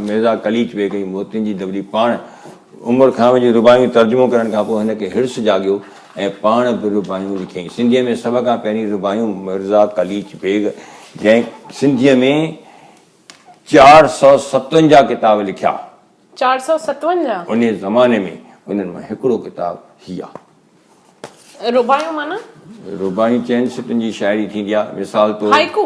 ميرزا قليچ بيگ ۽ موتين جي دٻلي پاڻ عمر کانوي جون رباعيون ترجمو ڪرڻ کان پوء هن کي حرص جاڳيو ۽ پاڻ به رباعيون لکيائين. سنڌيء ۾ سڀ کان پهرين رباعيون ميرزا قليچ بيگ جنهن سنڌيء ۾ چار سؤ ستونجاهه ڪتاب لکيا. چار سؤ ستونجاهه؟ انهيء زماني ۾ انهن مان هڪڙو ڪتاب هي آهي. رباعيون معنيٰ؟ رباعيون چئن سٽن جي شاعري ٿيندي آهي. مثال طور. Haiku?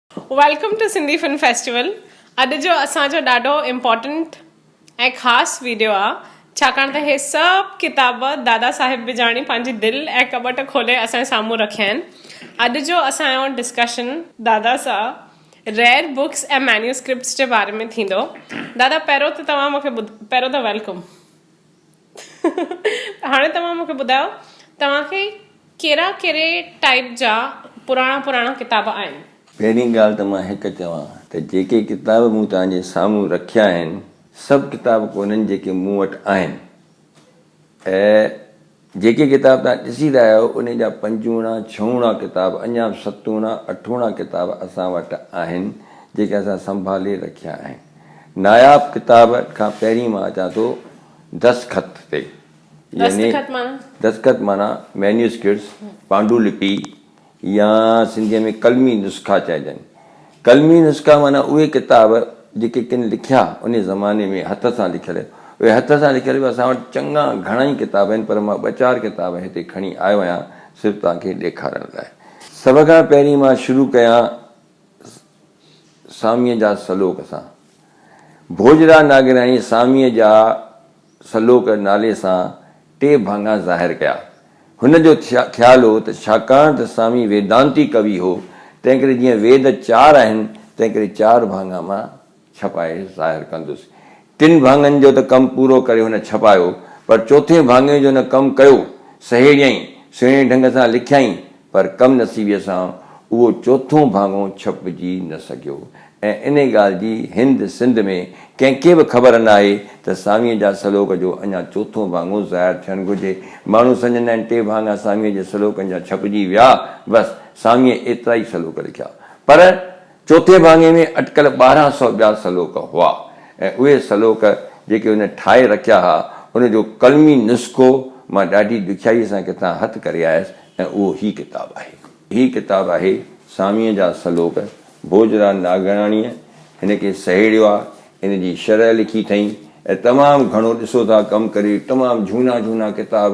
Welcome to Sindhi film festival اڄ جو اسان جو ڏاڍو امپورٽنٽ ۽ خاص ويڊيو آ ڇاڪاڻ ته هي سڀ ڪتاب دادا صاحب بجاڻي پنهنجي دل ۽ ڪٻٽ کولي اسان جي سامهون رکيا آهن اڄ جو اسان جو ڊسڪشن دادا سان ريئر بڪس ۽ مينيوسڪرپٽس جي باري ۾ ٿيندو دادا پهريون ته توهان مونکي ٻڌ پهريون ته ويلڪم. هاڻي توهان مونکي ٻڌايو توهان کي ڪهڙا ڪهڙي ٽائيپ جا پراڻا پراڻا ڪتاب آهن. پهرين ڳالهه ته مان هڪ چوان ته جيڪي ڪتاب مون توهان جي سامهون رکيا آهن سڀ ڪتاب ڪونهن جيڪي مون وٽ آهن ۽ جيڪي ڪتاب توهان ڏسي رهيا آهيو انهي جا پنجوڻا ڇهوڻا ڪتاب اڃا به ستوڻا اٺوڻا ڪتاب اسان وٽ آهن جيڪي اسان سنڀالي رکيا آهن ناياب ڪتابن کان پهرين مان اچان ٿو دستخط تي يعني دستخط معنيٰ مينيوسڪرٽس، پانڊو لپي يا سنڌيء ۾ قلمي نسخا چئجن. قلمي نسخا معنيٰ اهي ڪتاب جيڪي ڪن لکيا انهيء زماني ۾ هٿ سان لکيل. اهي هٿ سان لکيل به اسان وٽ چڱا گهڻائي ڪتاب آهن پر مان ٻه چار ڪتاب هتي کڻي آيو آهيان صرف توهان کي ڏيکارڻ لاء. سڀ کان پهرين مان شروع ڪيان ساميء جا سلوڪ سان ڀوڄرا ناگرياڻي ساميء جا سلوڪ نالي سان ٽي ڀاڱا ظاهر ڪيا. هن جو خيال هو ته ڇاڪاڻ ته سامي ويدانتي ڪوي هو، تنهنڪري جيئن ويد چار آهن، تنهنڪري چار ڀاڱا مان، ڇپائي ظاهر ڪندس. ٽن ڀاڱن جو ته ڪم پورو ڪري هن ڇپايو، پر چوٿين ڀاڱي جو نه ڪم ڪيو. سهيڙيائين، سهڻي ڍنگ سان لکيائين، پر ڪم نصيبيء سان اهو چوٿون ڀاڱو ڇپجي نه سگهيو ۽ انهي ڳالهه جي هند سنڌ ۾ ڪنهن کي به خبر ناهي ته ساميء جا سلوڪ جو اڃا چوٿون ڀاڱو ظاهر ٿيڻ گهرجي. ماڻهو سمجهندا آهن ٽي ڀاڱا ساميء جي سلوڪن جا ڇپجي ويا، بس ساميء ايترا ئي سلوڪ لکيا، پر چوٿين ڀاڱي ۾ اٽڪل ٻارهن سؤ ٻيا سلوڪ هئا ۽ اهي سلوڪ جيڪي هن ٺاهي رکيا ها، ان جو قلمي نسخو مان ڏاڍي ڏکيائيء سان ڪٿان هٿ ڪري آيس ۽ اهو هي ڪتاب آهي. هي ڪتاب آهي ساميء جا سلوڪ. ڀوڄراج ناگهراڻيء هن کي سهيڙيو آ، ان جي شرح لکي اٿئين ۽ تمام گهڻو ڏسو ٿا ڪم ڪري تمام جهونا جهونا ڪتاب،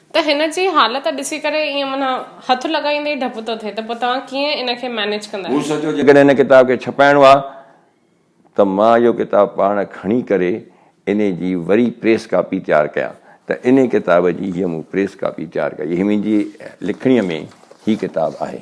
ته هن جي حالت ڏسي ڪري ائين معنيٰ هٿ لڳائيندي ئي ڊپ ٿو ٿئي ته پوء توهان ڪيئن ان کي مئنيج ڪندا مون آهيو. سوچيو جيڪڏهن هن ڪتاب کي ڇپائڻو آهي ته مان اهو ڪتاب پاڻ کڻي ڪري انهي جي وري پريس ڪاپي تيار ڪيان ته انهي ڪتاب جي هيء مون پريس ڪاپي تيار ڪئي هي منهنجي لکڻيء ۾ هي ڪتاب آهي.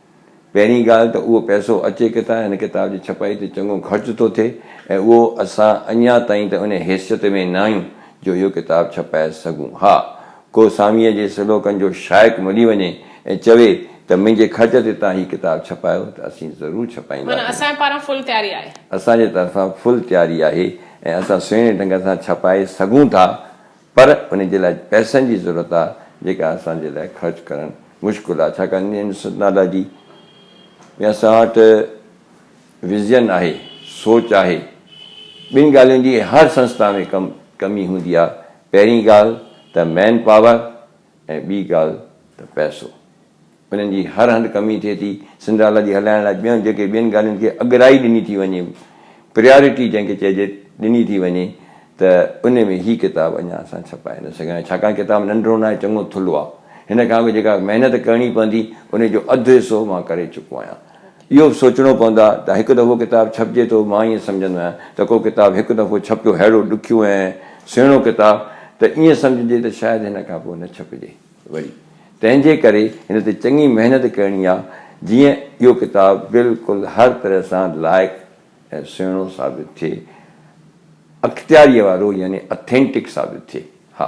پهرين ڳالهه ته اهو پئسو اچي ڪٿان؟ هن ڪتاب جي ڇپائي تي چڱو خرچ ٿو ٿئي ۽ اهو اسان اڃا تائين ته ان حيثيت ۾ ناهيون جو اهو ڪتاب ڇپائي سگهون. ها! ڪو ساميء جي سلوڪن جو شائق ملي وڃي ۽ چوي ته منهنجي خرچ تي تان هي ڪتاب ڇپايو ته اسين ضرور ڇپائينداسين. معنيٰ اسان پاران فل تياري آهي. اسان جي طرفان فل تياري آهي ۽ اسان سهڻي ڍنگ سان ڇپائي سگهون ٿا. پر انهي جي لاء پئسن جي ضرورت آ جيڪا اسان جي لاء خرچ ڪرڻ مشڪل آ ڇاڪاڻ انهي نسٽالاجي ۾ اسان وٽ وزين آهي سوچ آهي ٻن ڳالهين جي هر سنسٿا ۾ ڪم ڪمي هوندي آ پهرين ڳالهه ته مين پاور ۽ ٻي ڳالهه ته پئسو. انهن جي هر هنڌ ڪمي ٿئي ٿي. سنڌراليٰ جي هلائڻ لاء ٻين جيڪي ٻين ڳالهين کي اڳرائي ڏني ٿي وڃي، پريارٽي جنهن کي چئجي، ڏني ٿي وڃي ته انهي ۾ هي ڪتاب اڃا اسان ڇپائي نه سگهيا آهيون. ڇاڪاڻ ڪتاب ننڍڙو ناهي، چڱو ٿلهو آهي. هن کان اڳ جيڪا محنت ڪرڻي پوندي، انهي جو اڌ حصو مان ڪري چڪو آهيان. اهو به سوچڻو پوندو آهي ته هڪ دفعو ڪتاب ڇپجي ٿو، مان ائين سمجهندو آهيان ته ڪو ڪتاب هڪ دفعو ڇپيو ههڙو ڏکيو ۽ سهڻو ڪتاب ته ائين سمجهجي ته شايد هن کان پوء نه ڇپجي وري تنهن جي ڪري هن تي چڱي محنت ڪرڻي آهي جيئن اهو ڪتاب بلڪل هر طرح سان لائق ۽ سهڻو ثابت ٿئي اختياريء وارو يعني Authentic ثابت ٿئي ها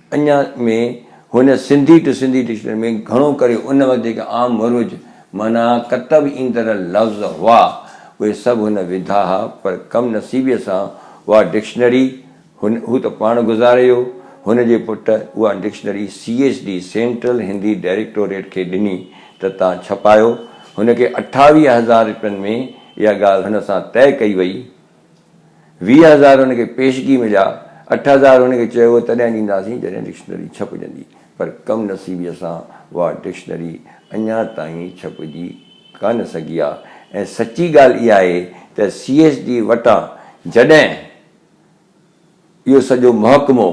اڃا ۾ هن سنڌي ٽو سنڌي ڊڪشنري ۾ گهڻو ڪري ان وقت جيڪي عام مروج معنيٰ ڪتب ايندڙ لفظ هئا، اهي سڀ هن وڌا ها، پر ڪم نصيبيء سان اها ڊڪشنري هن هو ته پاڻ گذاري ويو، هن جي پٽ اها dictionary C H D, central Hindi directorate, کي ڏني ته تان ڇپايو. هن کي اٺاويهه هزار روپين ۾ اها ڳالهه هن سان طئي ڪئي وئي. ويهه هزار هن کي پيشگي مليا، اٺ هزار هن کي چيو هو تڏهن ڏينداسين جڏهن ڊڪشنري ڇپجندي پر ڪم نصيبيء سان اها ڊڪشنري اڃا تائين ڇپجي ڪانه سگهي آ ۽ سچي ڳالهه اها آهي ته سي ايس ڊي وٽان جڏهن اهو سڄو محڪمو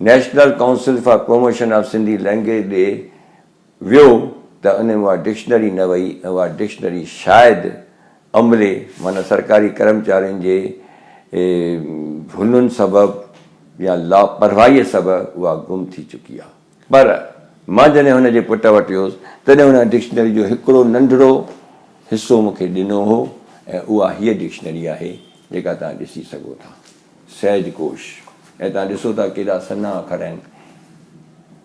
national council for promotion of Sindhi language ڏي ويو ته ان ۾ اها ڊڪشنري نه وئي ۽ اها ڊڪشنري شايد عملي معنيٰ سرڪاري ڪرمچارين جي ڀلن سبب يا لاپرواهيء سبب اها گم ٿي چڪي آهي. پر مان جڏهن هن جي پٽ وٽ ويس تڏهن هن ان ڊڪشنري جو هڪڙو ننڍڙو حصو مون کي ڏنو هو ۽ اها هيء ڊڪشنري آهي جيڪا توهان ڏسي سگهو ٿا. سهج ڪوش ۽ تهان ڏسو ٿا ڪيڏا سنها اکر آهن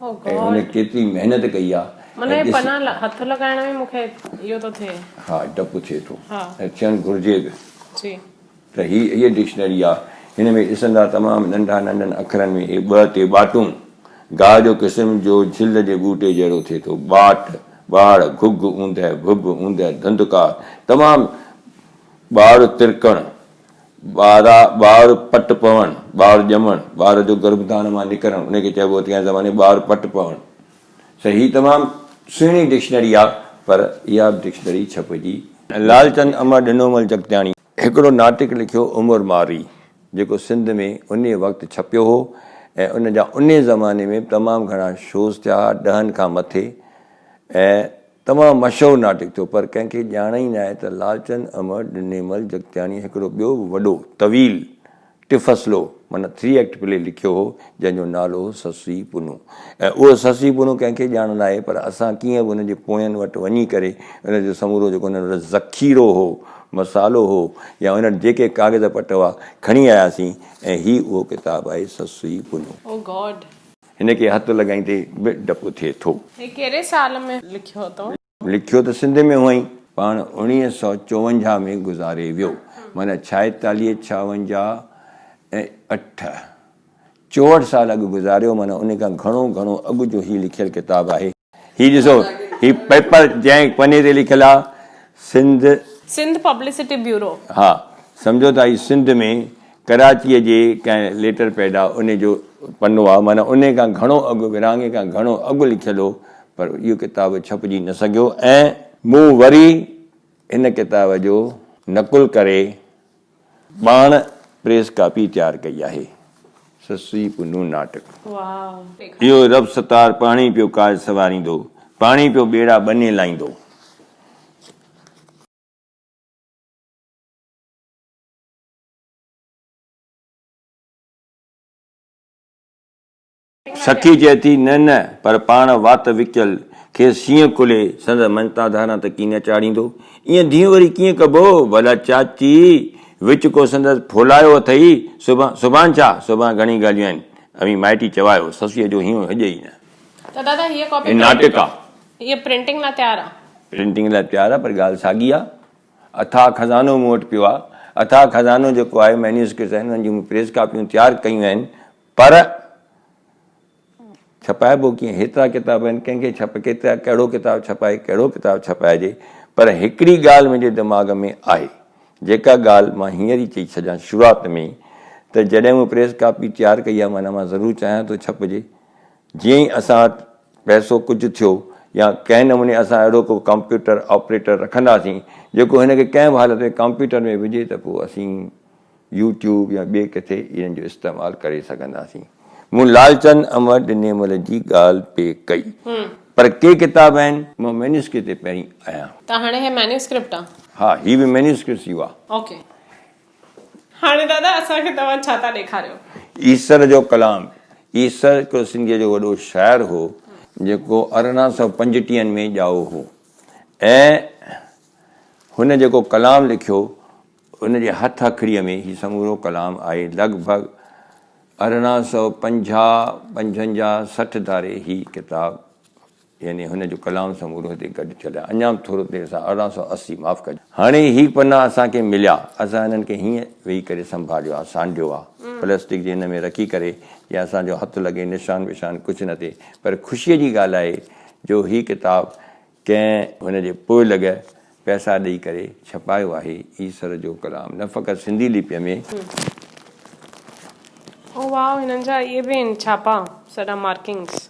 ۽ هن ڪيتري محنت ڪئي آهي ۽ ڏس معنيٰ پنا هٿ لڳائڻ ۾ مون کي اهو ٿو ٿئي. ها ڊپ ٿئي ٿو ۽ ٿيڻ گهرجي به. جي. ته هي هيء ڊڪشنري آهي هن ۾ ڏسندا تمام ننڍا ننڍن اکرن ۾ هي ٻه تي ٻاٽون گاهه جو قسم جو جهل جي ٻوٽي جهڙو ٿئي ٿو ٻاٽ ٻاڙ گهگهه اوندهه ڀڀ اوندهه ڌنڌڪار تمام ٻاڙ ترڪڻ ٻارا، ٻار پٽ پوڻ، ٻار ڄمڻ، ٻار جو گرڀڌان مان نڪرڻ ان کي چئبو اتي جا زماني ٻار پٽ پوڻ ته هي تمام سهڻي ڊڪشنري آ پر اها به ڊڪشنري ڇپجي نه. لالچند امر ڏنومل جڳتياڻي هڪڙو ناٽڪ لکيو عمر مارئي جيڪو سنڌ ۾ انهي وقت ڇپيو هو ۽ ان جا انهي زماني ۾ به تمام گهڻا شوز ٿيا ها ڏهن کان مٿي ۽ تمام مشهور ناٽڪ ٿيو پر ڪنهن کي ڄاڻ ئي ناهي ته لالچند امڙ ڏنيمل جڳتياڻيء هڪڙو ٻيو به وڏو، طويل، ٽفصلو معنيٰ ٿري ايڪٽ پلي لکيو هو جنهن جو نالو هو سسئي پنو ۽ اهو سسئي پنو ڪنهن کي ڄاڻ ناهي پر اسان ڪيئن به ان جي پوين وٽ وڃي ڪري ان جو سمورو جيڪو انهن وٽ ذخيرو هو، مصالحو هو يا انهن وٽ جيڪي ڪاغذ پٽ هئا کڻي آياسين ۽ هي اهو ڪتاب آهي سسئي پنو. Oh God! هن کي هٿ لڳائيندي به ڊپ ٿئي ٿو. هي ڪهڙي سال ۾ لکيو اٿو؟ لکيو ته سنڌ ۾ هئائين، پاڻ اوڻيهه سؤ چوونجاهه ۾ گذاري ويو، معنيٰ ڇائيتاليهه ڇاونجاهه ۽ اٺ، چوهٺ سال اڳ گذاريو، معنيٰ انهي کان گهڻو گهڻو اڳ جو هي لکيل ڪتاب آهي. هي ڏسو هي پيپر جنهن پني تي لکيل آ سنڌ. Sindh publicity bureau. ها سمجهو ته هي سنڌ ۾ ڪراچيء جي ڪنهن ليٽر پيڊ آ انهي جو پنو آ معنيٰ انهي کان گهڻو اڳ ورهاڱي کان گهڻو اڳ لکيل هو پر اهو ڪتاب ڇپجي نه سگهيو ۽ مون وري هن ڪتاب جو نقل ڪري پاڻ پريس ڪاپي تيار ڪئي آهي. سسئي پنهون ناٽڪ. اهو رب ستار پاڻهي پيو ڪاج سنواريندو، پاڻهي پيو ٻيڙا ٻني لائيندو. سکي چئي ٿي، نه نه، پر پاڻ وات وڪيل، کيس شينهن ڪلهي، سندس مڃتا ڌاران ته ڪي نه چاڙهيندو. ائين ڌينء وري ڪيئن ڪبو؟ ڀلا چاچي، وچ ڪو سندس ڦولايو اٿئي؟ سڀان، سڀان ڇا؟ سڀان گهڻي ڳالهيون آهن. اوهين مائٽي چوايو، سسئيء جو هينئون هجئي ئي نه. ته دادا، هيء ڪاپي. هي ناٽڪ آ. هيء پرنٽنگ لاء تيار آ. پرنٽنگ لاء تيار آ، پر ڳالهه ساڳي آ. اٿاهه خزانو مون وٽ پيو آ. اٿاهه خزانو جيڪو آهي، مينيوسڪرپٽس آهن، انهن جون مون پريس ڪاپيون تيار ڪيون آهن. پر ڇپائبو ڪيئن؟ هيترا ڪتاب آهن، ڪنهن کي ڇپ ڪيترا ڪهڙو ڪتاب ڇپائي ڪهڙو ڪتاب ڇپائجي؟ پر هڪڙي ڳالهه منهنجي دماغ ۾ آهي، جيڪا ڳالهه مان هينئر ئي چئي ڇڏيان شروعات ۾ ئي ته جڏهن مون پريس ڪاپي تيار ڪئي آهي معنيٰ مان ضرور چاهيان ٿو ڇپجي. جيئن ئي اسان وٽ پئسو ڪجهه ٿيو يا ڪنهن نموني اسان اهڙو ڪو ڪمپيوٽر آپريٽر رکنداسين جيڪو هن کي ڪنهن به حالت ۾ ڪمپيوٽر ۾ وجهي ته پوء اسين يو ٽيوب يا ٻئي ڪٿي انهن جو استعمال ڪري سگهنداسين. مون لالچند امر ڏنيمل جي ڳالهه پئي ڪئي. پر ڪي ڪتاب آهن. مان مينيوسڪرپٽ تي پهرين آهيان. ته هاڻي هي مينيوسڪرپٽ آ؟ ها هي به مينيوسڪرپٽ ئي هئا. اوڪي. هاڻي دادا اسان کي توهان ڇا ٿا ڏيکاريو؟ ايسر جو ڪلام. ايسر هڪڙو سنڌيء جو وڏو شاعر هو، جيڪو ارڙهن سؤ پنجٽيهن ۾ ڄائو هو ۽ هن جيڪو ڪلام لکيو، هن جي هٿ هٿڙيء ۾ هي سمورو ڪلام آهي. لڳ ڀڳ ارڙهن سؤ پنجاهه پنجن جا سٺ ڌاري هي ڪتاب يعني هن جو ڪلام سمورو هتي گڏ ٿيل آهي. اڃا به ٿورو دير سان ارڙهن سؤ اسي معاف ڪجو. هاڻي هي پنا اسان کي مليا. اسان هنن کي هيئن ويهي ڪري سنڀاليو آهي، سانڍيو آهي. پلاسٽڪ جي هن ۾ رکي ڪري جيئن اسان جو هٿ لڳي نشان وشان ڪجهه نه ٿئي. پر خوشيء جي ڳالهه آهي جو هي ڪتاب ڪنهن هن جي پوء لڳ پئسا ڏئي ڪري ڇپايو آهي. ايسر جو ڪلام نه فقط سنڌي لپيء ۾. او واء هنن جا اهي به آهن ڇاپا سڏا مارڪنگس.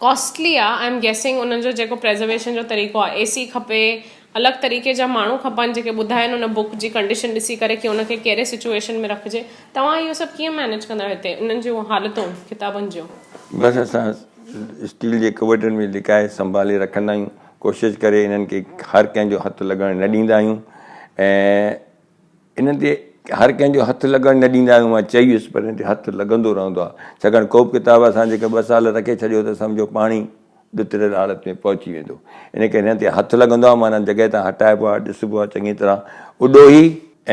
ڪاسٽلي آ آئم گيسنگ ان جو جيڪو پريزرويشن جو طريقو آ اي سي کپي الڳ طريقي جا ماڻهو کپن جيڪي ٻڌائن ان بڪ جي ڪنڊيشن ڏسي ڪري ڪي ان کي ڪهڙي سچويشن ۾ رکجي توهان اهو سڀ ڪيئن مينيج ڪندا آهيو هتي انهن جون حالتون ڪتابن جون. بس اسان اسٽيل جي ڪٻٽن ۾ لڪائي سنڀالي رکندا آهيون ڪوشش ڪري انهن کي هر ڪنهن جو هٿ لڳڻ نه ڏيندا آهيون ۽ انهن تي هر ڪنهن جو هٿ لڳڻ نه ڏيندا آهيون، مان چئي ويس، پر انهن تي هٿ لڳندو رهندو آهي، ڇاڪاڻ ڪوبه ڪتاب اسان جيڪر ٻه سال رکي ڇڏيو ته سمجهو پاڻهي ڏتڙيل حالت ۾ پهچي ويندو، ان ڪري هنن تي هٿ لڳندو آهي، معنيٰ جڳهه تان هٽائبو آهي، ڏسبو آهي چڱي طرح اڏوهي،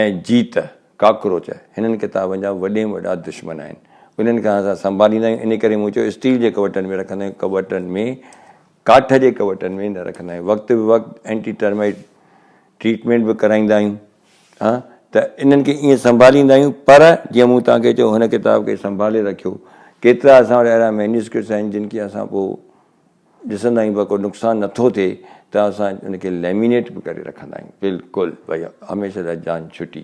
۽ جيت، ڪاڪروچ، هنن ڪتابن جا وڏي ۾ وڏا دشمن آهن، انهن کي اسان سنڀاليندا آهيون، ان ڪري مون چيو اسٽيل جي ڪٻٽن ۾ رکندا آهيون، ڪٻٽن ۾ ڪاٺ جي ڪٻٽن ۾ نه رکندا آهيون، وقت به وقت اينٽي ٽرمائيٽ، ٽريٽمينٽ به ڪرائيندا آهيون ها ته انهن کي ائين سنڀاليندا آهيون پر جيئن مون توهان کي چيو هن ڪتاب کي سنڀالي رکيو ڪيترا اسان وٽ اهڙا مينيوسڪرپٽس آهن جن کي اسان پوء ڏسندا آهيون پر ڪو نقصان نٿو ٿئي ته اسان ان کي ليمينيٽ به ڪري رکندا آهيون بلڪل ڀئي هميشه لاء جان ڇٽي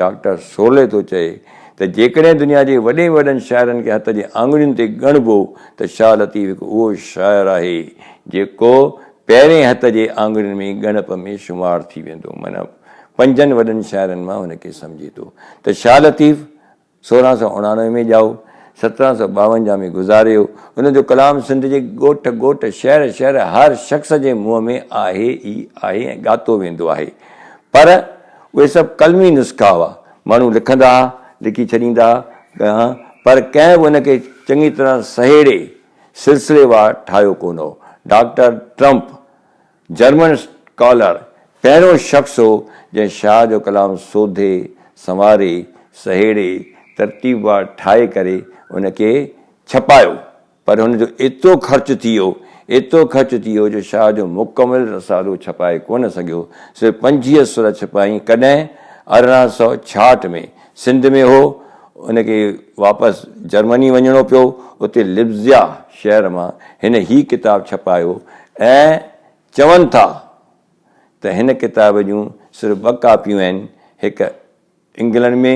ڊاڪٽر سولي ٿو چئي ته جيڪڏهن دنيا جي وڏي ۾ وڏن شاعرن کي هٿ جي آڱرين تي ڳڻبو ته شاهه لطيف هڪ اهو شاعر آهي جيڪو پهرين هٿ جي آڱرين ۾ ڳڻپ ۾ شمار ٿي ويندو معنيٰ پنجن وڏن شاعرن مان هن کي سمجهي ٿو ته شاهه لطيف سورهن سئو اڻاڻوي ۾ ڄائو، سترهن سئو ٻاونجاهه ۾ گذاريو. هن جو ڪلام سنڌ جي ڳوٺ ڳوٺ، شهر شهر، هر شخص جي منهن ۾ آهي ئي آهي ۽ ڳاتو ويندو آهي. پر اهي سڀ قلمي نسخا هئا. ماڻهو لکندا ها، لکي ڇڏيندا ها، پر ڪنهن به ان کي چڱي طرح سهيڙي سلسليوار ٺاهيو ڪونه هو. Doctor Trump. جرمن اسڪالر پهريون شخص هو جنهن شاهه جو ڪلام سوڌي، سنواري، سهيڙي، ترتيبوار ٺاهي ڪري ان کي ڇپايو پر هن جو ايترو خرچ ٿي ويو، ايترو خرچ ٿي ويو جو شاهه جو مڪمل رسالو ڇپائي ڪونه سگهيو، صرف پنجيهه سر ڇپائين ڪڏهن ارڙهن سؤ ڇاهٺ ۾ سنڌ ۾ هو، هن کي واپس جرمني وڃڻو پيو، اتي لبزيا شهر مان هن هي ڪتاب ڇپايو ۽ چون ٿا ته هن ڪتاب جون صرف ٻه ڪاپيون آهن، هڪ انگلنڊ ۾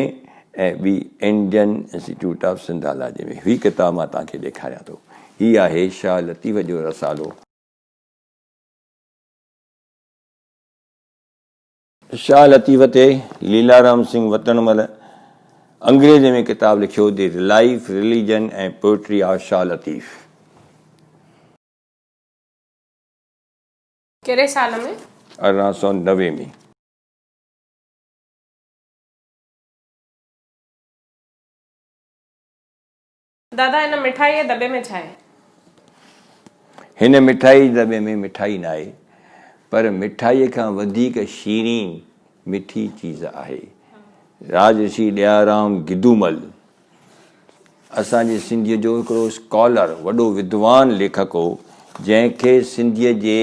۽ ٻي انڊين انسٽيٽيوٽ آف سنڌالاجي ۾. هي ڪتاب مان توهان کي ڏيکاريان ٿو. هي آهي شاهه لطيف جو رسالو. شاهه لطيف تي ليلارام سنگهه وتڻ مهل انگريزيء ۾ ڪتاب لکيو the life, religion ۽ poetry of Shah Latif. ڪهڙي سال ۾؟ ارڙهن سؤ نوي ۾. دادا هن مٺائي جي دٻي ۾ ڇا آهي؟ هن مٺائي جي دٻي ۾ مٺائي ناهي پر مٺائي کان وڌيڪ شيرين مٺي چيز آهي. راجرشي ڏيارام گدومل اسان جي سنڌيء جو هڪڙو اسڪالر وڏو ودوان ليکڪ هو جنهن کي سنڌيء جي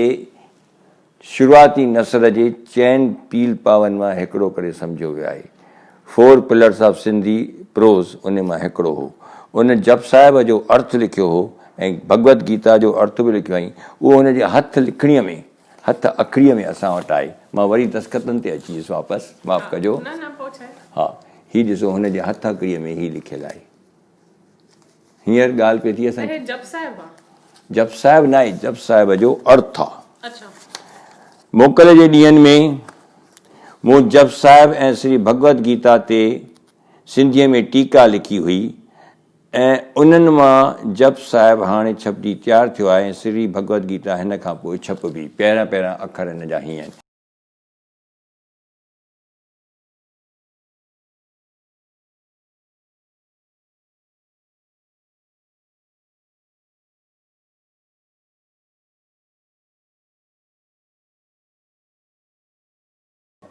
شروعاتي نثر جي چئن پيل پاون مان هڪڙو ڪري سمجهيو ويو آهي. فور پلرس آف سنڌي پروز انهي مان هڪڙو هو. ان جپ صاحب جو ارٿ لکيو هو ۽ ڀڳوت گيتا جو ارٿ به لکيو هئائين. اهو هن جي هٿ لکڻيء ۾ هٿ اکريء ۾ اسان وٽ آهي. مان وري دستخطن تي اچي ويس واپس. معاف ڪجو. ها. هي ڏسو هن جي هٿ اکريء ۾ هي لکيل آهي. هينئر ڳالهه پئي ٿي اسان جي. جپ صاحب آ. جپ صاحب ناهي جپ صاحب جو ارٿ آ. اڇا. موڪل جي ڏينهن ۾ مون جپ صاحب ۽ سري ڀڳوت گيتا تي سنڌيء ۾ ٽيڪا لکي هئي ۽ انهن مان جپ صاحب هاڻي ڇپجي تيار ٿيو آهي ۽ سري ڀڳوت گيتا هن کان پوء ڇپبي. پهريان پهريان اکر هن جا هيئن آهن.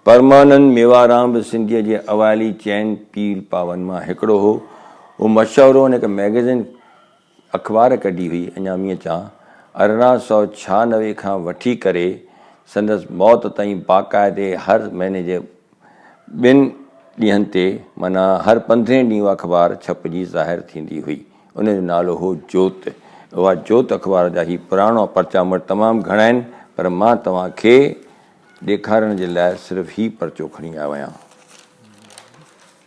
پرمانند ميوارام به سنڌيء جي اوائلي چئن پير پاون مان هڪڙو هو. هو مشهور هو ۽ هڪ مئگزين اخبار ڪڍي هئي اڃا مينهن چان ارڙهن سؤ ڇهانوي کان وٺي ڪري سندس موت تائين باقاعدي هر مهيني جي ٻن ڏينهن تي معنيٰ هر پندرهين ڏينهن اها اخبار ڇپجي ظاهر ٿيندي هئي ان جو نالو هو جوت اها جوت اخبار جا هي پراڻا پرچا مون وٽ تمام گهڻا آهن پر مان توهان کي ڏيکارڻ جي لاء صرف هي پرچو کڻي آيو آهيان.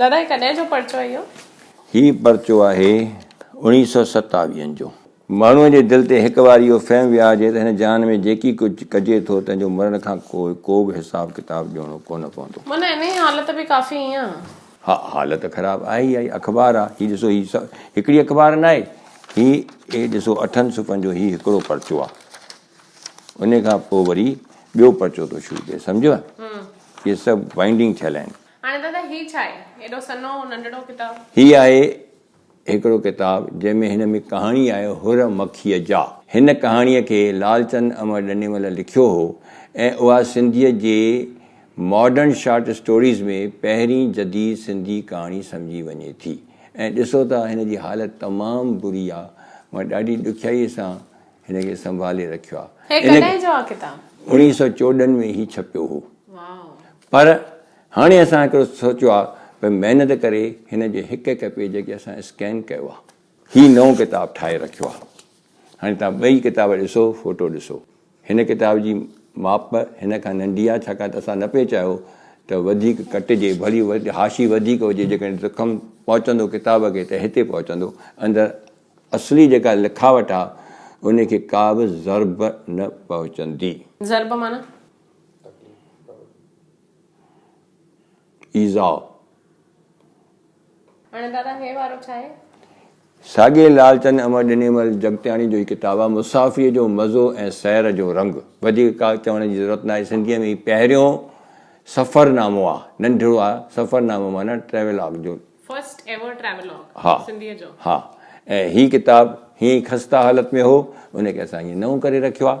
دادا هي ڪڏهن جو پرچو اهي اهو. هي پرچو آهي اوڻيهه سؤ ستاويهن جو. ماڻهوء جي دل تي هڪ وار اهو فهم ويهارجي ته هن جهان ۾ جيڪي ڪجهه ڪجي ٿو تنهن جو مرڻ کان پوء ڪوبه حساب ڪتاب ڏيڻو ڪونه پوندو. معنيٰ انهيء حالت به ڪافي ائين آهي. ها حالت خراب آهي ئي آهي. اخبار آ هي ڏسو هي هڪڙي اخبار ناهي هي هي ڏسو اٺن صفحن جو هي هڪڙو پرچو آ انهي کان پوء وري ٻيو پرچو ٿو شروع ٿئي سمجهيو اهي سڀ وائنڊنگ ٿيل آهن. هاڻي دادا هي ڇا آهي؟ ايڏو سنهو ننڍڙو ڪتاب. هي آهي هڪڙو ڪتاب جنهن ۾ هن ۾ ڪهاڻي آهي حر مکيء جا. هن ڪهاڻيء کي لالچند امر ڏنيمل لکيو هو ۽ اها سنڌيء جي ماڊرن شارٽ اسٽوريز ۾ پهرين جديد سنڌي ڪهاڻي سمجهي وڃي ٿي ۽ ڏسو ته هن جي حالت تمام بري آ مان ڏاڍي ڏکيائيء سان هن کي سنڀالي رکيو آ. هي ڪڏهن جو آ ڪتاب؟ اڻيهه سئو چوڏهن ۾ هي ڇپيو هو. واء. پر هاڻي اسان هڪڙو سوچيو آ ته محنت ڪري هن جي هڪ هڪ پيج کي اسان اسڪين ڪيو آ. هي نئون ڪتاب ٺاهي رکيو آ. هاڻي توهان ٻئي ڪتاب ڏسو فوٽو ڏسو. هن ڪتاب جي ماپ هن کان ننڍي آ ڇاڪاڻ ته اسان نه پئي چاهيو ته وڌيڪ ڪٽجي ڀلي حاشي وڌيڪ هجي جيڪڏهن زخم پهچندو ڪتاب کي ته هتي پهچندو اندر اصلي جيڪا لکاوٽ آ ان کي ڪا به ضرب نه پهچندي. ضرب معنيٰ ايذاء. ساڳي لالچند امر ڏنيمل جڳتياڻي جو ئي ڪتاب آهي مسافريء جو مزو ۽ سير جو رنگ. وڌيڪ ڪا چوڻ جي ضرورت ناهي. سنڌيء ۾ هي پهريون سفر نامو آهي. ننڍڙو آهي. سفر نامو معنيٰ ٽريولاگ جو. ها. ها. ۽ هي ڪتاب هيئن ئي خسته حالت ۾ هو. ان کي اسان هيئن نئون ڪري رکيو آهي.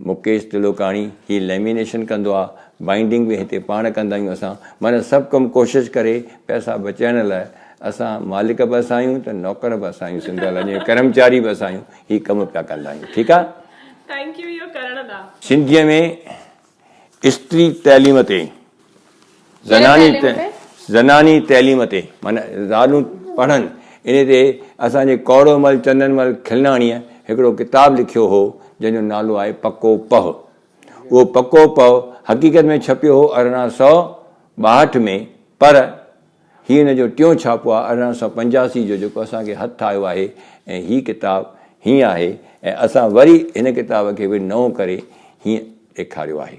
مڪيش تلوڪاڻي، هي ليمينيشن ڪندو آ، بائينڊنگ به هتي پاڻ ڪندا آهيون اسان، معنيٰ سڀ ڪم ڪوشش ڪري پئسا بچائڻ لاء اسان مالڪ به اسان آهيون ته نوڪر به اسان آهيون سنڌ والن جي ڪرمچاري به اسان آهيون هي ڪم پيا ڪندا آهيون ٺيڪ آ. ٿينڪ يو اهو ڪرڻ لا. سنڌيء ۾ استري تعليم تي زناني تعليم تي معنيٰ زالون پڙهن ان تي اسان جي ڪوڙو مل چندن مل کلناڻيء هڪڙو ڪتاب لکيو هو جنهن جو نالو آهي پڪو پهه. اهو پڪو پهه حقيقت ۾ ڇپيو هو ارڙهن سؤ ٻاهٺ ۾ پر هي ان جو ٽيون ڇاپو آهي ارڙهن سؤ پنجاسي جو جيڪو اسان کي هٿ آيو آهي ۽ هي ڪتاب هيئن آهي ۽ اسان وري هن ڪتاب کي به نئون ڪري هيئن ڏيکاريو آهي.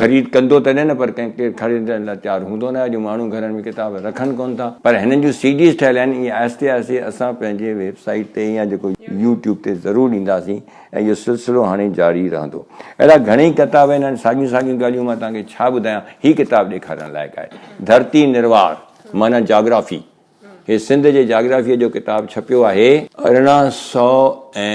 خريد ڪندو تڏهن نه پر ڪنهن ڪير خريدڻ لاء تيار هوندو نه اڄ ماڻهو گهرن ۾ ڪتاب رکن ڪونه ٿا پر هنن جون سي ڊيز ٺهيل آهن ايئن آهستي آهستي اسان پنهنجي ويب سائيٽ تي يا جيڪو يو ٽيوب تي ضرور ڏينداسين ۽ اهو سلسلو هاڻي جاري رهندو اهڙا گهڻيئي ڪتاب آهن هاڻي ساڳيون ساڳيون ڳالهيون مان توهان کي ڇا ٻڌايان هي ڪتاب ڏيکارڻ لائق آهي ڌرتي نروار معنيٰ جاگرافي هي سنڌ جي جاگرافيء جو ڪتاب ڇپيو آهي ارڙهن سؤ ۽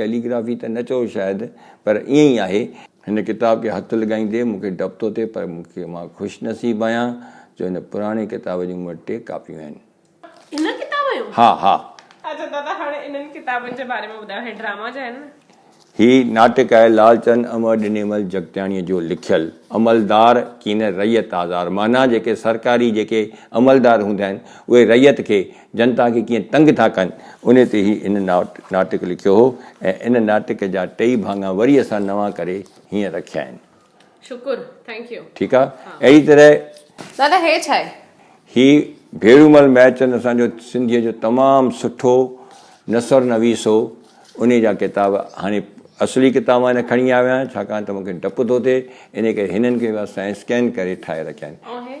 ڪيلي گرافي ته نه چئو شايد پر ائين ئي آهي. هن ڪتاب کي هٿ لڳائيندي مون کي ڊپ ٿو ٿئي پر مون کي مان خوش نصيب آهيان جو هن پراڻي ڪتاب جون مون وٽ ٽي ڪاپيون آهن. انهن ڪتابن جون؟ ها ها. اچو دادا هاڻي انهن ڪتابن جي باري ۾ ٻڌايو هي ڊراما جا آهن نه؟ هي ناٽڪ آهي لالچند امر ڏنيمل جڳتياڻيء جو لکيل عملدار ڪين رعيت آزار معنيٰ جيڪي سرڪاري جيڪي عملدار هوندا آهن اهي رعيت کي جنتا کي ڪيئن تنگ ٿا ڪن، انهي تي هي هن ناٽڪ لکيو هو ۽ ان ناٽڪ جا ٽئي ڀاڱا وري اسان نوان ڪري هيئن رکيا آهن. شڪر ٿينڪ يو. ٺيڪ آ اهڙي طرح. دادا هي ڇا آهي؟ هي ڀيرومل مهرچند اسان جو سنڌيء جو تمام سٺو نثر نويس هو انهي جا ڪتاب هاڻي اصلي ڪتاب مان نه کڻي آيو آهيان ڇاڪاڻ ته مون کي ڊپ ٿو ٿئي انهي ڪري هنن کي به اسان اسڪين ڪري ٺاهي رکيا آهن.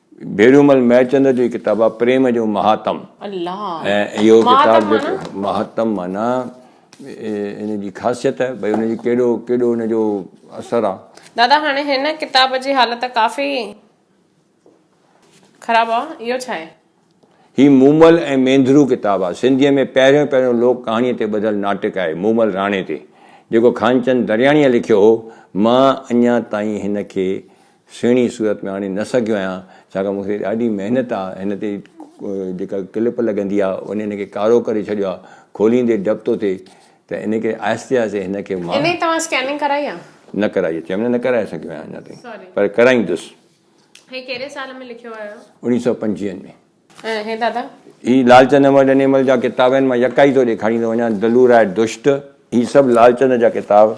ڀيرومل مهيچند جو هي ڪتاب آهي پريم جو مهاتم ۽ اهو ڪتاب جيڪو مهاتم معنيٰ ان جي خاصيت ڀئي ان جي ڪهڙو ڪيڏو ان جو اثر آهي. دادا هاڻي هن ڪتاب جي حالت ڪافي خراب آهي اهو ڇا آهي؟ هي مومل ۽ مينڌرو ڪتاب آهي سنڌيء ۾ پهريون پهريون لوڪ ڪهاڻيء تي ٻڌل ناٽڪ آهي مومل راڻي تي جيڪو خانچند درياڻيء لکيو هو مان اڃا تائين هن کي سهڻي صورت ۾ آڻي نه سگهيو آهيان ڇاڪاڻ مون کي ڏاڍي محنت آ هن تي جيڪا ڪلپ لڳندي آ ان هن کي ڪارو ڪري ڇڏيو آ کوليندي ڊپ ٿو ٿئي ته ان ڪري آهستي آهستي هن کي مان انهي توهان اسڪيننگ ڪرائي آ؟ نه ڪرائي آ چيم نه نه ڪرائي سگهيو آهيان اڃا تائين پر ڪرائيندس. هي ڪهڙي سال ۾ لکيو آهيو؟ اوڻيهه سؤ پنجويهن ۾. اهي دادا. هي لالچند احمد انيمل جا ڪتاب آهن مان يڪا ئي تو ڏيکاريندو وڃان دلو راء دشت هي سڀ لالچند جا ڪتاب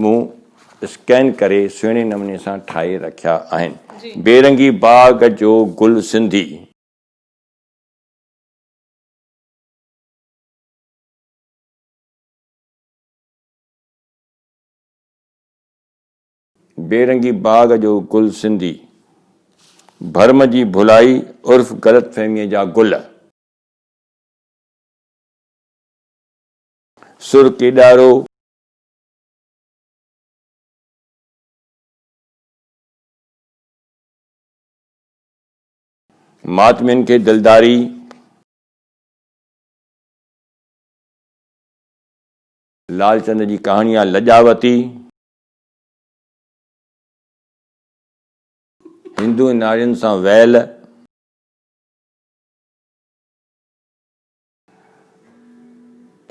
مون اسڪين ڪري سهڻي نموني سان ٺاهي رکيا آهن بيرنگي باغ جو گل سنڌي. بي رنگي باغ جو گل سنڌي. ڀرم جي ڀلائي عرف غلط فهميء جا گل. سر ڪيڏارو. ماتمين کي دلداري. لالچند جي ڪهاڻي آ لڄاوتي. هندو ۽ نارين سان ويل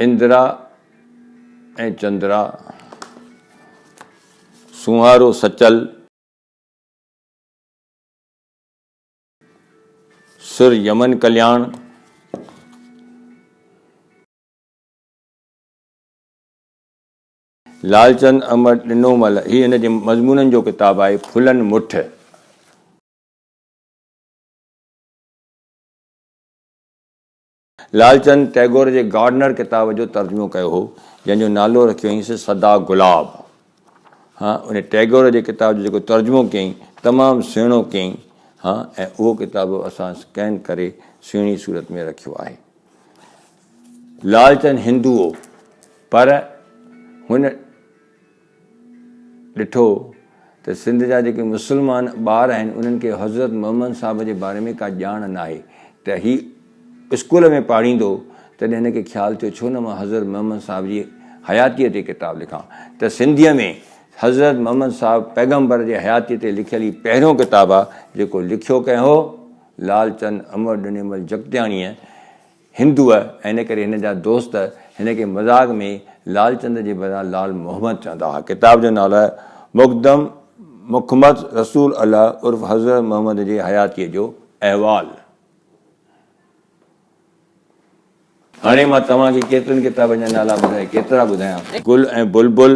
اندرا ۽ چندرا سونهارو سچل سر يمن ڪلياڻ لالچند امڙ ڏنومل هي هن جي مضمونن جو ڪتاب آهي ڦلن مٺ. لالچند ٽئگور جي گارڊنر ڪتاب جو ترجمو ڪيو هو جنهن جو نالو رکيو هئينس سدا گلاب. ها ان ٽئگور جي ڪتاب جو جيڪو ترجمو ڪيائين تمام سهڻو ڪيائين ها ۽ اهو ڪتاب اسان اسڪين ڪري سهڻي صورت ۾ رکيو آهي. لالچند هندو هو پر هن ڏٺو ته سنڌ جا جيڪي مسلمان ٻار آهن انهن کي حضرت محمد صاحب جي باري ۾ ڪا ڄاڻ ناهي ته هي اسڪول ۾ پاڙهيندو تڏهن هن کي خيال ٿيو ڇو نه مان حضرت محمد صاحب جي حياتيء تي ڪتاب لکان ته سنڌيء ۾ حضرت محمد صاحب پيغمبر جي حياتيء تي لکيل هي پهريون ڪتاب آهي جيڪو لکيو ڪنهن هو لالچند امر ڏنيمل جڳتياڻيء هندوء ۽ ان ڪري هن جا دوست هن کي مذاق ۾ لال چند جي بدران لال محمد چوندا هئا. ڪتاب جو نالو مقدم مخمد رسول الله عرف حضرت محمد جي حياتيء جو احوال. هاڻي مان توهان کي ڪيترن ڪتابن جا نالا ٻڌائي ڪيترا ٻڌايان. گل ۽ بلبل.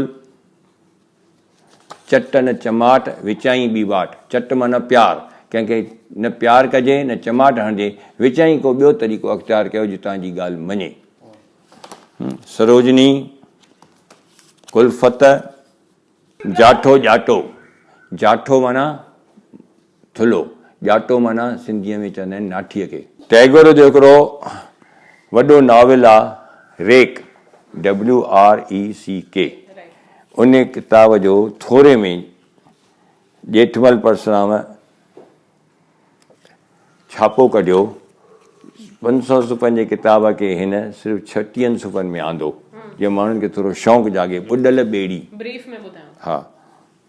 چٽ نه چماٽ، وچائين ٻي واٽ. چٽ معنيٰ پيار، ڪنهن کي نه پيار ڪجي نه چماٽ هڻجي، وچائين ڪو ٻيو طريقو اختيار ڪيو جو توهان جي ڳالهه مڃي. سروجني، ڪلفت، جاٺو، ڄاٽو، جاٺو معنيٰ ٿلهو، ڄاٽو معنيٰ سنڌيء ۾ چوندا آهن ناٺيء کي. ٽئگور جو هڪڙو وڏو ناول آهي ريڪ، WRECK، ان ڪتاب جو ٿوري ۾ ڄيٺمل پرسرام ڇاپو ڪڍيو، پنج سؤ صفحن جي ڪتاب کي هن صرف ڇٽيهن صفحن ۾ آندو، جيئن ماڻهن کي ٿورو شوق جاڳي، ٻڏل ٻيڙي. بريف ۾ ٻڌايو. ها،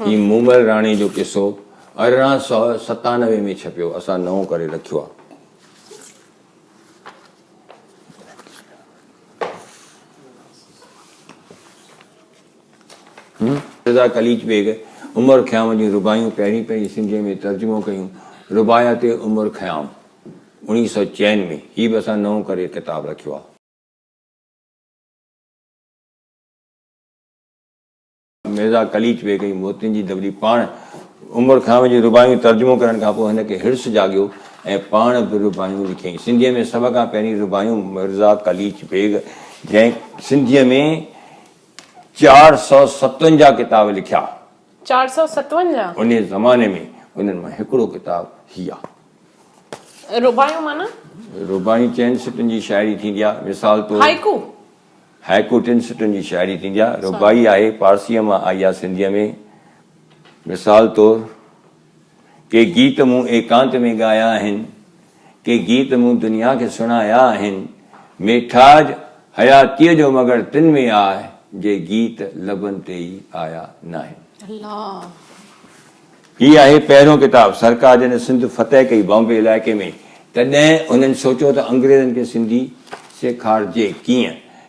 هي مومل راڻي جو قصو ارڙهن سؤ ستانوي ۾ ڇپيو اسان نئون ڪري رکيو آ. رضا قليچ بيگ عمر خيام جون رباعيون پهرين پنهنجي سنڌيء ۾ ترجمو ڪيون. رباعيات عمر خيام، اڻيهه سؤ چئن ۾، هي به اسان نئون ڪري ڪتاب رکيو آهي. مرزا قليچ بيگ جي موتين جي دٻلي پاڻ عمر خيام جون رباعيون ترجمو ڪرڻ کان پوء هن کي حرص جاڳيو ۽ پاڻ به رباعيون لکيائين. سنڌيء ۾ سڀ کان پهرين رباعيون مرزا قليچ بيگ جنهن سنڌيء ۾. چار سؤ ستونجاهه ڪتاب لکيا. چار سؤ ستونجاهه؟ انهيء زماني ۾ انهن مان هڪڙو ڪتاب هي آهي. رباعيون معنيٰ؟ رباعيون چئن سٽن جي شاعري ٿيندي آهي. مثال طور. هائيڪو؟ هائيڪو ٽن سٽن جي شاعري ٿيندي آهي. رباعي آهي، پارسيء مان آئي آهي سنڌيء ۾. مثال طور. ڪي گيت مون ايڪانت ۾ ڳايا آهن، ڪي گيت مون دنيا کي سڻايا آهن، ميٺاج حياتيء جو مڳڙ تن ۾ آء جي گيت لبن تي ئي آيا ناهن. هي آهي پهريون ڪتاب، سرڪار جڏهن سنڌ فتح ڪئي بامبي علائقي ۾، تڏهن هنن سوچيو ته انگريزن کي سنڌي سيکارجي ڪيئن؟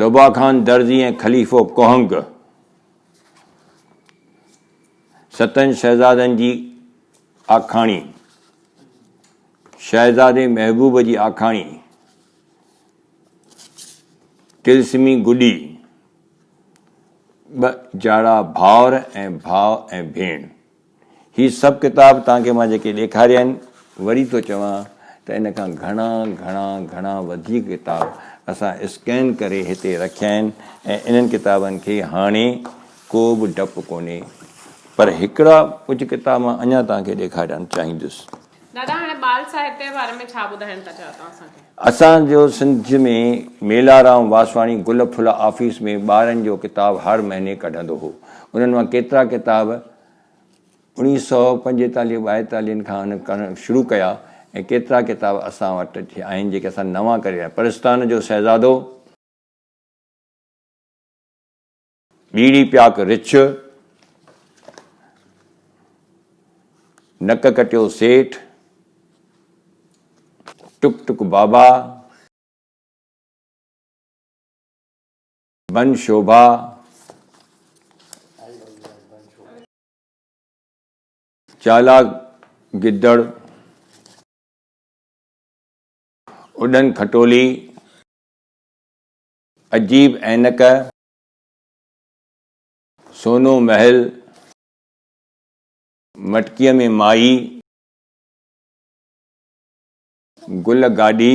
لبا خان درزي ۽ خليفو ڪهنگ ستن شهزادن جي آکاڻي شهزادي محبوب جي آکاڻي تلسمي گڏي ٻه جاڙا ڀاور ۽ ڀاء ۽ ڀيڻ هي سڀ ڪتاب توهان کي مان جيڪي ڏيکاريا آهن، وري ٿو چوان ته ان کان گهڻا گهڻا گهڻا وڌيڪ ڪتاب اسان اسڪين ڪري هتي رکيا آهن ۽ انهن ڪتابن کي هاڻي ڪو به ڊپ ڪونهي پر هڪڙا ڪجهه ڪتاب مان اڃا توهان کي ڏيکارڻ چاهيندس. دادا هاڻي ٻال ساهتيه جي باري ۾ ڇا ٻڌائڻ ٿا چاهيو توهان اسان کي؟ اسان جو سنڌ ۾ ميلارام واسواڻي گل ڦل آفيس ۾ ٻارن جو ڪتاب هر مهيني ڪڍندو هو. انهن مان ڪيترا ڪتاب اڻيهه سؤ پنجيتاليهه ٻائيتاليهن کان هن ڪرڻ شروع ڪيا ۽ ڪيترا ڪتاب اسان وٽ آهن جيڪي اسان نوان ڪري رهيا پرستان جو شهزادو، ٻيڙي پياڪ رڇ، نڪ ڪٽيو سيٺ، ٽڪ ٽڪ بابا، بن شوڀا، چالاڪ گدڙ، اڏن کٽولي، عجيب عينڪ، سونو محل، مٽڪيء ۾ مائي، گل گاڏي،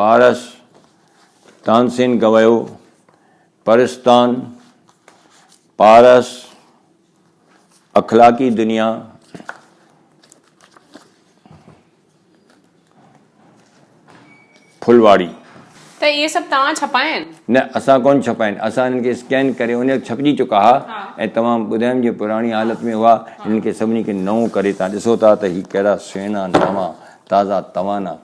پارس، تانسين گويو، پرستان، پارس، اخلاقي دنيا، ڦلواڙي. ته اهي سڀ توهان ڇپايا آهن؟ نه اسان ڪونه ڇپايا آهن اسان هنن کي اسڪين ڪري ان وقت ڇپجي چڪا ها ۽ توهان ٻڌايم جي پراڻي حالت ۾ هئا هنن کي سڀني کي نئون ڪري توهان ڏسو ٿا ته هي ڪهڙا سهڻا نوان تازا توانا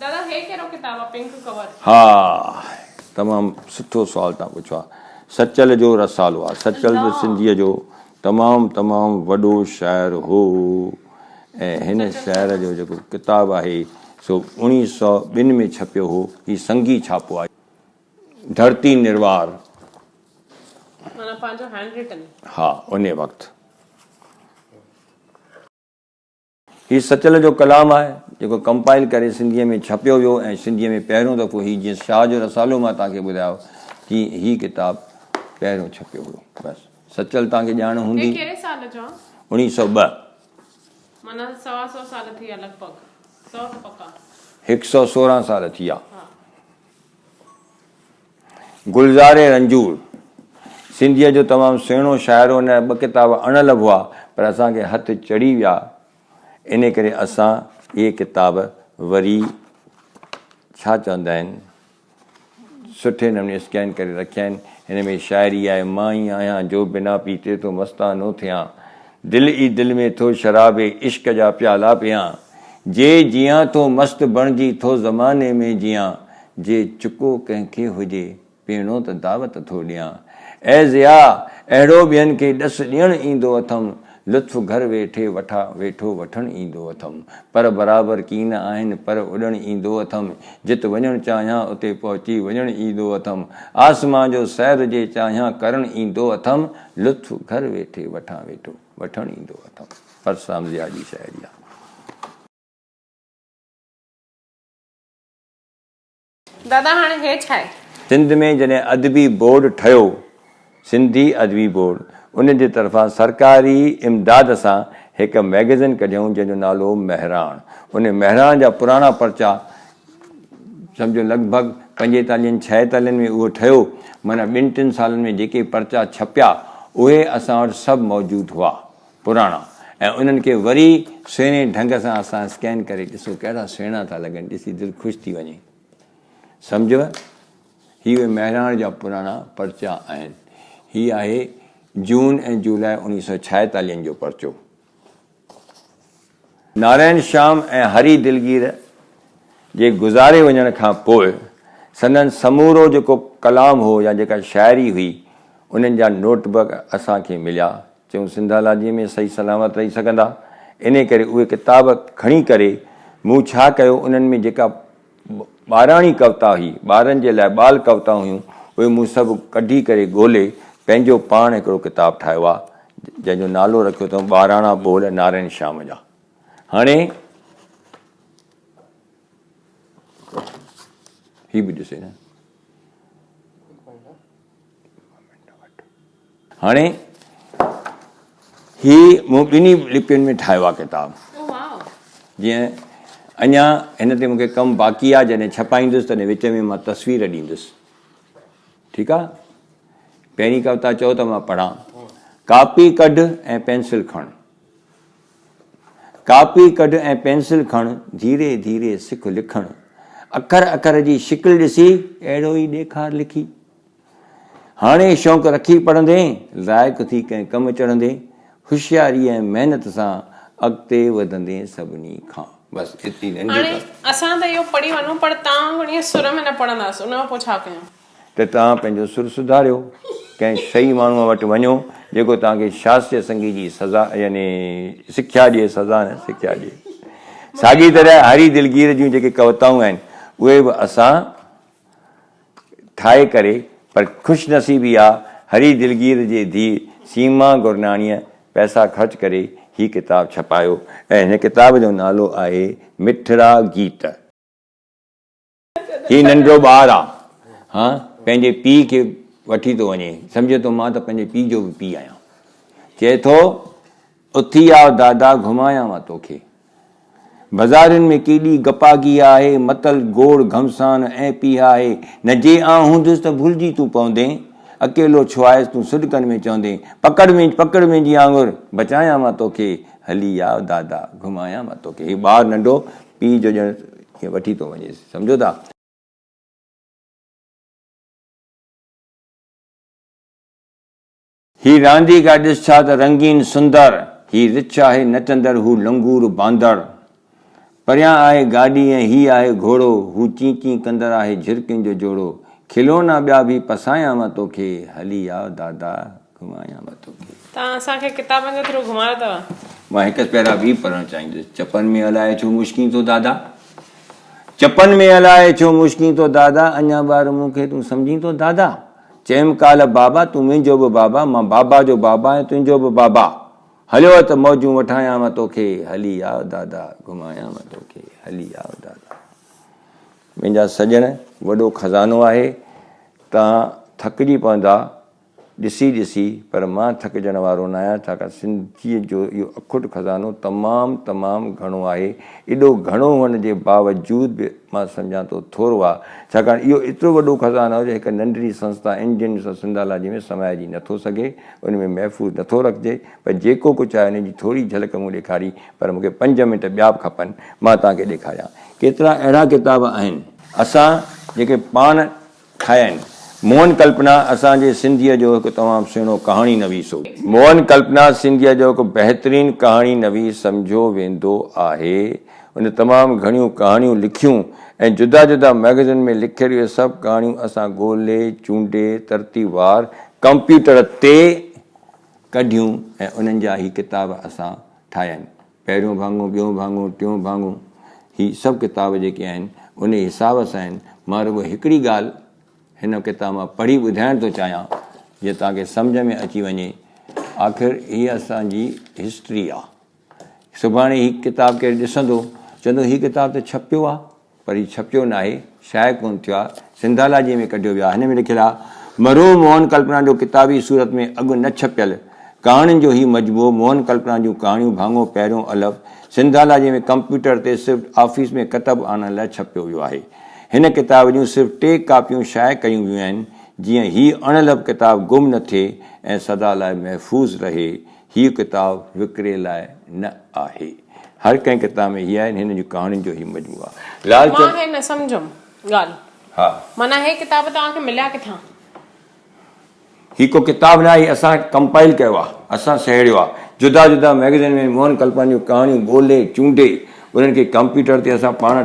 دادا هي ڪهڙو ڪتاب آ پنڪ ڪور. ها تمام سٺو سوال تان پڇو آ سچل جو رسالو آ سچل به سنڌيء جو تمام تمام وڏو شاعر هو ۽ هن شاعر جو جيڪو ڪتاب آهي سو اڻيهه سئو ٻن ۾ ڇپيو هو هي سنگي ڇاپو آهي ڌرتي نروار معنيٰ پنهنجو هينڊ رٽن. ها انهي وقت. هي سچل جو ڪلام آهي، جيڪو ڪمپائل ڪري سنڌيء ۾ ڇپيو ويو ۽ سنڌيء ۾ پهريون دفعو هي جيئن شاهه جو رسالو مان توهان کي ٻڌايو تيئن هي ڪتاب پهريون ڇپيو هيو. بس سچل توهان کي ڄاڻ هوندي. هي ڪهڙي سال جو آهي؟ اڻيهه سؤ ٻه. معنيٰ سوا سؤ سال ٿي ويا لڳ ڀڳ. سؤ ته پڪا. هڪ سؤ سورهن سال ٿي ويا. گلزار رنجور سنڌيء جو تمام سهڻو شاعر هو نه ٻه ڪتاب اڻ لڀ هئا پر اسان کي هٿ چڙهي ويا انهي ڪري اسان اهي ڪتاب وري ڇا چوندا آهن سٺي نموني اسڪين ڪري رکيا آهن هن ۾ شاعري آهي مان ئي آهيان جو بنا پيتي ٿو مستانو ٿيان دل ئي دل ۾ ٿو شراب عشق جا پيالا پيئان جي جيئان ٿو مست بڻجي ٿو زماني ۾ جيئان جي چڪو ڪنهن کي هجي پيئڻو ته دعوت ٿو ڏيان اي ضيا اهڙو ٻين کي ڏس ڏيڻ ايندو اٿم لطف گهر ويٺي وٺا ويٺو وٺڻ ايندو اٿم پر برابر ڪين آهن پر اڏڻ ايندو اٿم جت وڃڻ چاهيان اتي پهچي وڃڻ ايندو اٿم آسمان جو سير جي چاهيان ڪرڻ ايندو اٿم لطف گهر ويٺي وٺان ويٺو. وٺڻ ايندو اٿم. پرسرام ضياء جي شاعري آهي. دادا هاڻي هي ڇا آهي. سنڌ ۾ جڏهن ادبي بورڊ ٺهيو، سنڌي ادبي بورڊ، ان جي طرفان سرڪاري امداد سان هڪ مئگزين ڪڍيائون جنهن جو نالو هو مهراڻ. ان مهراڻ جا پراڻا پرچا سمجهو لڳ ڀڳ پنجيتاليهن ڇاهيتاليهن ۾ اهو ٺهيو، معنيٰ ٻن ٽن سالن ۾ جيڪي پرچا ڇپيا، اهي اسان وٽ سڀ موجود هئا، پراڻا، ۽ انهن کي وري سهڻي ڍنگ سان اسان اسڪين ڪري ڏسو، ڪهڙا سهڻا ٿا لڳن، ڏسي دل خوش ٿي وڃي. سمجهيو؟ هي اهي مهراڻ جا پراڻا پرچا آهن. هي آهي جون ۽ جولاء اوڻيهه سؤ ڇاهيتاليهن جو پرچو. نارائڻ شيام ۽ هري دلگير جي گذاري وڃڻ کان پوء سندن سمورو جيڪو ڪلام هو يا جيڪا شاعري هئي، انهن جا نوٽ بڪ اسان کي مليا. چيون سنڌالاجيء ۾ صحيح سلامت رهي سگهندا، انهيء ڪري اهي ڪتاب کڻي ڪري مون ڇا ڪيو، انهن ۾ جيڪا ٻاراڻي ڪوتا هئي، ٻارن جي لاء ٻال ڪوتا هيون، اهي مون سڀ ڪڍي ڪري ڳولي پنهنجو پاڻ هڪڙو ڪتاب ٺاهيو آ، جنهن جو نالو رکيو اٿم ٻاراڻا ٻول نارائڻ شيام جا. هاڻي هي به ڏسي نه. هاڻي هي مون ٻنهي لپين ۾ ٺاهيو آهي ڪتاب جيئن اڃا هن تي مون کي ڪم باقي آهي جڏهن ڇپائيندس تڏهن وچ ۾ مان تصوير ڏيندس ٺيڪ آهي پهرين ڪوتا چئو ته مان پڙهان ڪاپي ڪڍ ۽ پينسل کڻ ڪاپي ڪڍ ۽ پينسل کڻ ڌيري ڌيري سک لکڻ اکر اکر جي شڪل ڏسي اهڙو ئي ڏيکار لکي هاڻي شوق رکي پڙهندين، لائق ٿي ڪنهن ڪم چڙهندين، هوشياري ۽ محنت سان اڳتي وڌندين سڀني کان. بس ايتري ننڍي ڪهاڻي. هاڻي اسان ته اهو پڙهي وڃون پر توهان وڻيئي سر ۾ نه پڙهنداس ان کان پوء ڇا ڪيون؟ ته توهان پنهنجو سر سڌاريو، ڪنهن صحيح ماڻهوء وٽ وڃو جيڪو توهان کي شاستريه سنگيت جي سزا يعني سکيا ڏئي سزا نه سکيا ڏئي. ساڳي طرح هري دلگير جون جيڪي ڪوتائون آهن اهي به اسان. ٺاهي ڪري پر خوش نصيبي آ هري دلگير جي ڌيء سيما گرناڻيء پئسا خرچ ڪري هي ڪتاب ڇپايو ۽ هن ڪتاب جو نالو آهي مٺڙا گيت. هي ننڍڙو ٻار آ هان پنهنجي پيء کي وٺي ٿو وڃي سمجهي ٿو مان ته پنهنجي پيء جو به پيء آهيان چئي ٿو. اٿي آء دادا گهمايانء توکي. بزارين ۾ ڪيڏي گپاگي آهي، متل، گوڙ، گهمسان ۽ پيهه آهي نه جي آء هونديس ته ڀلجي تون پوندين، اڪيلو ڇو آهيس تون سڏڪن ۾ چوندين، پڪڙ وينج پڪڙ وينجي آڱر بچايانء توکي، هلي آء دادا گهمايانء توکي. هي ٻار ننڍو پيء جو ڄڻ ائين وٺي ٿو وڃيس سمجهو ٿا. هي رانديگر ڏس ڇا ته رنگين سندر، هي رڇ آهي نچندڙ هو لنگور باندر، پريان آهي گاڏي ۽ هي آهي گهوڙو، هو چين چين ڪندڙ آهي جهرڪين جو جوڙو، کلونا ٻيا ڀي پسايان مان توکي، هلي آء دادا گهمايان مان توکي. تان اسان کي ڪتابن جي ٿرو گهمايو اتو. مان هڪ پيرا ٻي پڙهڻ چاهيندس. چپن ۾ الائي ڇو مشڪين ٿو دادا. چپن ۾ الائي ڇو مشڪين ٿو دادا. اڃا ٻار مون کي تون سمجهين ٿو دادا. چيم ڪالهه بابا تون منهنجو به بابا، مان بابا جو بابا ۽ تنهنجو به بابا. هليو اچ ته موجون وٺايانء توکي، هلي آء دادا، گهمايانء توکي، هلي آء دادا. منهنجا سڄڻ، وڏو خزانو آهي، توهان ٿڪجي پوندا ڏسي ڏسي، پر مان ٿڪجڻ وارو ناهيان، ڇاڪاڻ سنڌيء جو اهو اکوٽ خزانو تمام تمام گهڻو آهي، ايڏو گهڻو هئڻ جي باوجود به، مان سمجهان ٿو ٿورو آهي، ڇاڪاڻ اهو ايترو وڏو خزانو آهي جو هڪ ننڍڙي سنسٿا انجن سان سنڌالاجي ۾ سمائجي نه ٿو سگهي، ان ۾ محفوظ نه ٿو رکجي، پر جيڪو ڪجهه آهي ان جي ٿوري جهلڪ مون ڏيکاري، پر مونکي پنج منٽ ٻيا به کپن، مان توهان کي ڏيکاريان ڪيترا اهڙا ڪتاب آهن. اسان جيڪي پاڻ. ٺاهيا آهن. موهن ڪلپنا اسان جي سنڌيء جو هڪ تمام سهڻو ڪهاڻي نويس هو. موهن ڪلپنا سنڌيء جو هڪ بهترين ڪهاڻي نويس سمجهيو ويندو آهي. هن تمام گهڻيون ڪهاڻيون لکيون ۽ جدا جدا مئگزين ۾ لکيل اهي سڀ ڪهاڻيون اسان ڳولي چونڊي ترتيبوار ڪمپيوٽر تي ڪڍيون ۽ انهن جا هي ڪتاب اسان ٺاهيا آهن. پهريون ڀاڱو، ٻيون ڀاڱو، ٽيون ڀاڱو هي سڀ ڪتاب جيڪي آهن انهي حساب سان آهن. مان رڳو هڪڙي ڳالهه هن ڪتاب مان پڙهي ٻڌائڻ ٿو چاهيان جيئن توهان کي سمجهه ۾ اچي وڃي. آخر هي اسان جي هسٽري آ. سڀاڻي هي ڪتاب ڪير ڏسندو چوندو هي ڪتاب ته ڇپيو آ. پر هي ڇپيو ناهي، شايع ڪونه ٿيو آ، سنڌالاجيء ۾ ڪڍيو ويو آ. هن ۾ لکيل آ، مرحوم موهن ڪلپنا جو ڪتابي صورت ۾ اڳ نه ڇپيل ڪهاڻين جو هي مجموعو موهن ڪلپنا جون ڪهاڻيون ڀاڱو پهريون الف سنڌالاجيء ۾ ڪمپيوٽر تي صرف آفيس ۾ ڪتب آڻڻ لاء ڇپيو ويو آهي. هن ڪتاب جون صرف ٽي ڪاپيون شايع ڪيون ويون آهن، جيئن هي اڻ الف ڪتاب گم نه ٿئي ۽ سدا لاء محفوظ رهي. هيء ڪتاب وڪري لاء نه آهي. هر ڪنهن ڪتاب ۾ هي آهن هن جون ڪهاڻين جو هي مجموعو آهي. لال چند. مان هي نه سمجهيم ڳالهه. ها. معنيٰ هي ڪتاب توهان کي مليا ڪٿان؟ هي ڪو ڪتاب نه آهي. اسان ڪمپائيل ڪيو آهي. اسان سهيڙيو آهي. جدا جدا مئگزين ۾ موهن ڪلپاني جون ڪهاڻيون ڳولهي چونڊي انهن کي ڪمپيوٽر تي اسان پاڻ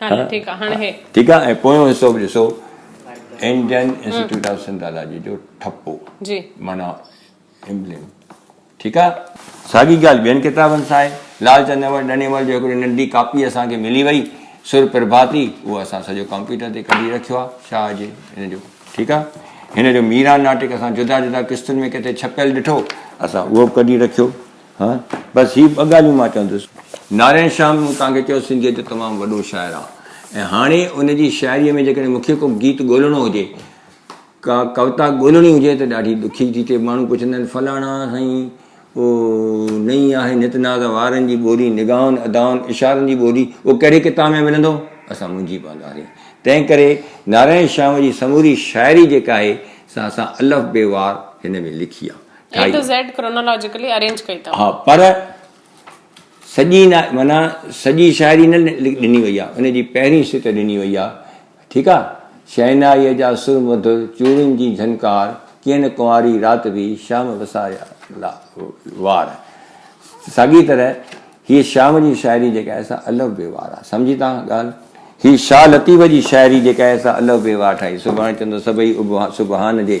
ٺيڪ آ ۽ پويون حصو به ڏسو انڊين انسٽيٽيوٽ آف سنڌالاجي جو ٺپو معنيٰ امبليم ٺيڪ آ ساڳي ڳالهه ٻين ڪتابن سان آهي لال چند امر ڏنيمل جو هڪڙي ننڍي ڪاپي اسان کي ملي وئي سر پرڀاتي اهو اسان سڄو ڪمپيوٽر تي ڪڍي رکيو آ شاهه جي هن جو ٺيڪ آ هن جو ميران ناٽڪ اسان جدا جدا قسطن ۾ ڪٿي ڇپيل ڏٺو اسان اهو به ڪڍي رکيو ها بس هي ٻه ڳالهيون مان چوندس. نارائڻ شيام مون توهان کي چيو سنڌيء جو تمام وڏو شاعر آ ۽ هاڻي ان جي شاعريء ۾ جيڪڏهن مون کي ڪو گيت ڳولڻو هجي، ڪا ڪوتا ڳولڻي هجي ته ڏاڍي ڏکي ٿي ٿئي. ماڻهو پڇندا آهن فلاڻا سائين او نئين آهي نت ناز وارن جي ٻولي، نگاهن، ادائن، اشارن جي ٻولي اهو ڪهڙي ڪتاب ۾ ملندو؟ اسان منجهي پوندا سين. تنهن ڪري نارائڻ شيام جي سموري شاعري جيڪا آهي سا اسان الف بي وار هن ۾ لکي آ. A to Z chronologically arrange ڪئي اٿم. ها پر سڄي نه معنيٰ سڄي شاعري نه ڏني وئي آهي ان جي پهرين سٽ ڏني وئي آهي ٺيڪ آهي شهنائيء جا سر مڌر چوڙين جي جهنڪار ڪين ڪنواري رات به شام وساريا لا وار ساڳي طرح هيء شام جي شاعري جيڪا آهي سا الف بي وار آهي سمجهي ٿا ڳالهه هيء شاهه لطيف جي شاعري جيڪا آهي سا الف بي وار ٺاهي سڀاڻي چوندو سڀئي ابهان سبحان جي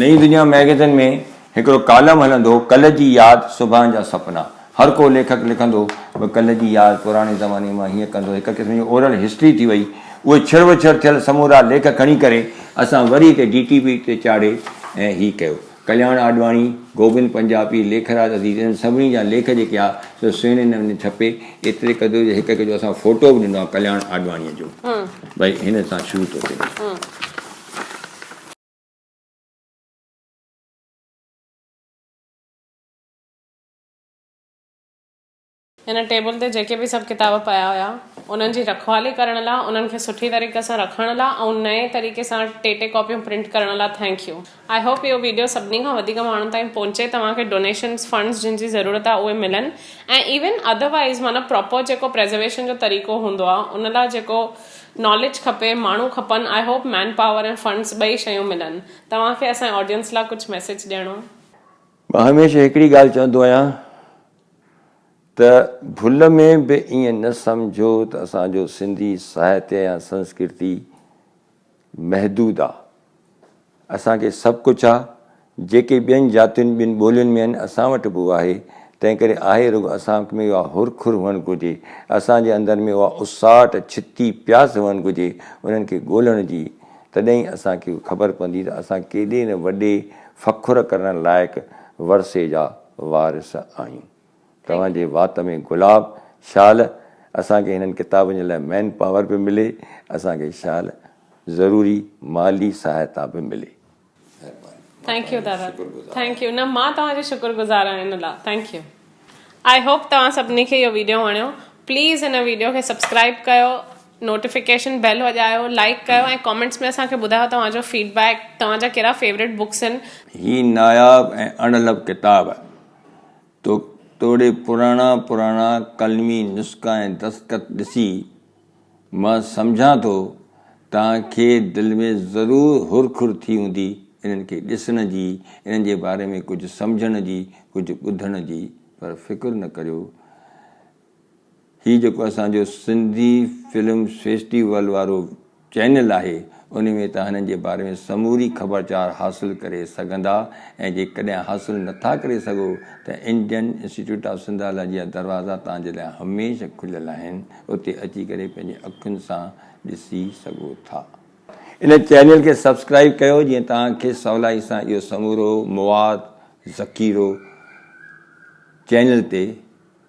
نئين دنيا مئگيزن ۾ هڪڙو ڪالم هلندو هو، ڪلهه جي ياد، صبحان جا سپنا. هر ڪو ليکڪ لکندو هو ڪلهه جي ياد، پراڻي زماني مان هيئن ڪندو، هڪ قسم جي اورل هسٽري ٿي وئي. اهي ڇڙ و ڇڙ ٿيل سمورا ليک کڻي ڪري اسان وري هتي ڊي ٽي وي تي چاڙهي ۽ هي ڪيو. ڪلياڻ آڏواڻي، گوبند پنجاپي، ليکراج عزيز انهن سڀني جا ليک جيڪي آ سو سهڻي نموني ڇپي ايتري قدر جو هڪ هڪ جو اسان ڦوٽو به ڏنو آ ڪلياڻ آڏواڻيء جو. ڀئي هن سان شروع ٿو ٿئي. هن ٽيبل تي جيڪي به سڀ ڪتاب پيا هيا انهن جي رکوالي ڪرڻ لا انهن کي سٺي طريقي سان رکڻ لا ۽ نئين طريقي سان ٽي ٽي ڪاپيون پرنٽ ڪرڻ لا ٿينڪ يو آئي هوپ اهو ويڊيو سڀني کان وڌيڪ ماڻهن تائين پهچي توهان کي ڊونيشنز فنڊز جن جي ضرورت آهي اهي ملن ۽ ايون اڌروائيز معنيٰ پراپر جيڪو پريزرويشن جو طريقو هوندو آهي ان لا جيڪو ناليج کپي، ماڻهو کپن، I hope manpower ۽ funds ٻئي شيون ملن. توهان کي اسان جي آڊينس لا ڪجهه ميسيج ڏيڻو. مان هميشه هڪڙي ڳالهه چوندو آهيان ته ڀل ۾ به ائين نه سمجهو ته اسان جو سنڌي ساهتيه يا سنسڪرتي محدود آ. اسان کي سڀ ڪجهه آ، جيڪي ٻين جاتين ٻين ٻولين ۾ آهن اسان وٽ به اهو آهي، تنهنڪري آهي رڳو اسان ۾ اها هر کر هئڻ گهرجي، اسان جي اندر ۾ اها اساٽ، ڇتي، پياس هئڻ گهرجي انهن کي ڳولڻ جي، تڏهن ئي اسان کي خبر پوندي ته اسان ڪيڏي نه وڏي فخر ڪرڻ لائق ورثي جا وارث آهيون. توهان جي وات ۾ گلاب شال اسان کي هنن ڪتابن جي لاء مين پاور به ملي اسان کي شال ضروري مالي سهائتا به ملي ٿينڪ يو دادا ٿينڪ يو نه مان توهان جي شڪر گذار آهيان ان لا ٿينڪ يو آئي هوپ توهان سڀني کي اهو ويڊيو وڻيو پليز هن ويڊيو کي سبسڪرائب ڪيو نوٽيفڪيشن بيل وڄايو لائڪ ڪيو ۽ ڪامينٽس ۾ اسان کي ٻڌايو توهان جو فيڊبيڪ توهان جا ڪهڙا فيوريٽ بڪس آهن هي ناياب ۽ اڻلڀ ڪتاب توڙي پراڻا پراڻا قلمي نسخا ۽ دستخط ڏسي، مان سمجهان ٿو توهان کي دل ۾ ضرور هر کر ٿي هوندي انهن کي ڏسڻ جي، انهن جي باري ۾ ڪجهه سمجهڻ جي، ڪجهه ٻڌڻ جي، پر فڪر نه ڪريو، هي جيڪو اسان جو سنڌي فلم فيسٽيول وارو چينل آهي انهي ۾ توهان هنن جي باري ۾ سموري خبرچار حاصل ڪري سگهندا ۽ جيڪڏهن حاصل نٿا ڪري سگهو ته انڊين انسٽيٽيوٽ آف سنڌالاجي جا دروازا توهان جي لاء هميشه کليل آهن اتي اچي ڪري پنهنجي اکين سان ڏسي سگهو ٿا. ان چينل کي سبسڪرائب ڪيو جيئن توهان کي سولائي سان اهو سمورو مواد ذخيرو چينل تي